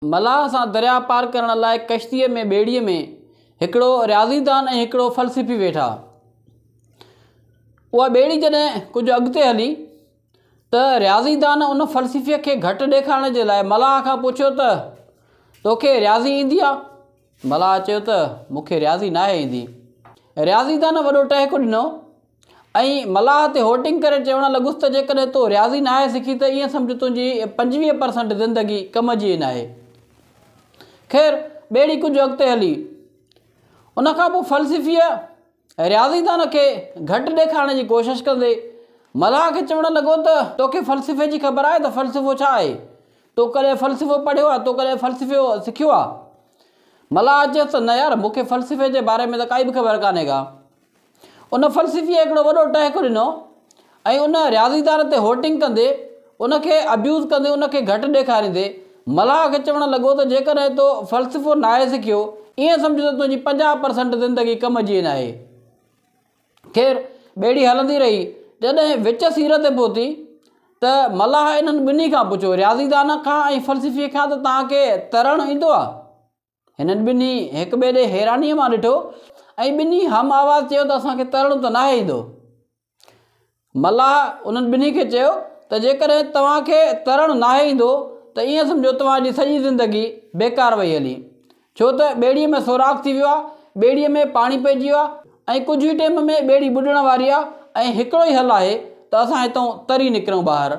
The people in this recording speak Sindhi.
ملاح سان درياء پار ڪرڻ لاء ڪشتيء ۾ ٻيڙيء ۾ هڪڙو رياضيدان ۽ هڪڙو فلسفي ويٺا. اها ٻيڙي جڏهن ڪجهه اڳتي هلي ته رياضيدان ان فلسفيء کي گهٽ ڏيکارڻ جي لاء ملاح کان پڇيو ته، توکي رياضي ايندي آ؟ ملاح چيو ته مون کي رياضي ناهي ايندي. رياضيدان وڏو ٽهڪ ڏنو ۽ ملاح تي هوٽنگ ڪري چوڻ لڳس ته جيڪڏهن تو رياضي ناهي سکي ته ائين سمجهه تنهنجي پنجويهه پرسنٽ زندگي ڪم جي ئي ناهي. خير ٻيڙي ڪجهه اڳتي هلي. ان کان پوء فلسفيء. رياضيدان کي گهٽ ڏيکارڻ جي ڪوشش ڪندي، ملاح کي چوڻ لڳو ته، توکي فلسفي جي خبر آهي ته فلسفو ڇا آهي؟ تو ڪڏهن فلسفو پڙهيو آهي؟ تو ڪڏهن فلسفو سکيو آهي؟ ملاح چيس ته، نه يار، مون کي فلسفي جي باري ۾ ته ڪائي به خبر ڪانهي ڪا. ان فلسفيء هڪڙو وڏو ٽهڪ ڏنو ۽ ان رياضيدان تي هوٽنگ ڪندي، ان کي ابيوز ڪندي ان کي گهٽ ڏيکاريندي، ملاح کي چوڻ لڳو ته جيڪڏهن تو فلسفو ناهي سکيو، ائين سمجهه ته تنهنجي پنجاهه پرسنٽ زندگي ڪم جي ناهي. خير، ٻيڙي هلندي رهي، جڏهن وچ سير تي پهتي ته ملاح انهن ٻنهي کان پڇيو، رياضيدان کان ۽ فلسفي کان ته توهان کي ترڻ ايندو آ؟ هنن ٻنهي هڪ ٻئي ڏي حيرانيء مان ڏٺو ۽ ٻنهي هم آواز چيو ته اسان کي ترڻ ته ناهي ايندو. ملاح انهن ٻنهي کي چيو ته جيڪڏهن توهان کي ترڻ ناهي ايندو ته ائين سمجهو توهان جي سڄي زندگي بيڪار وئي هلي ڇو ته ٻيڙيء ۾ سوراخ ٿي ويو آهي، ٻيڙيء ۾ پاڻي پئجي ويو آهي ۽ ڪجهه ئي ٽيم ۾ ٻيڙي ٻڏڻ واري آهي ۽ هڪڙو ئي حل آهي ته اسان هتئون تري نڪرون ٻاهر.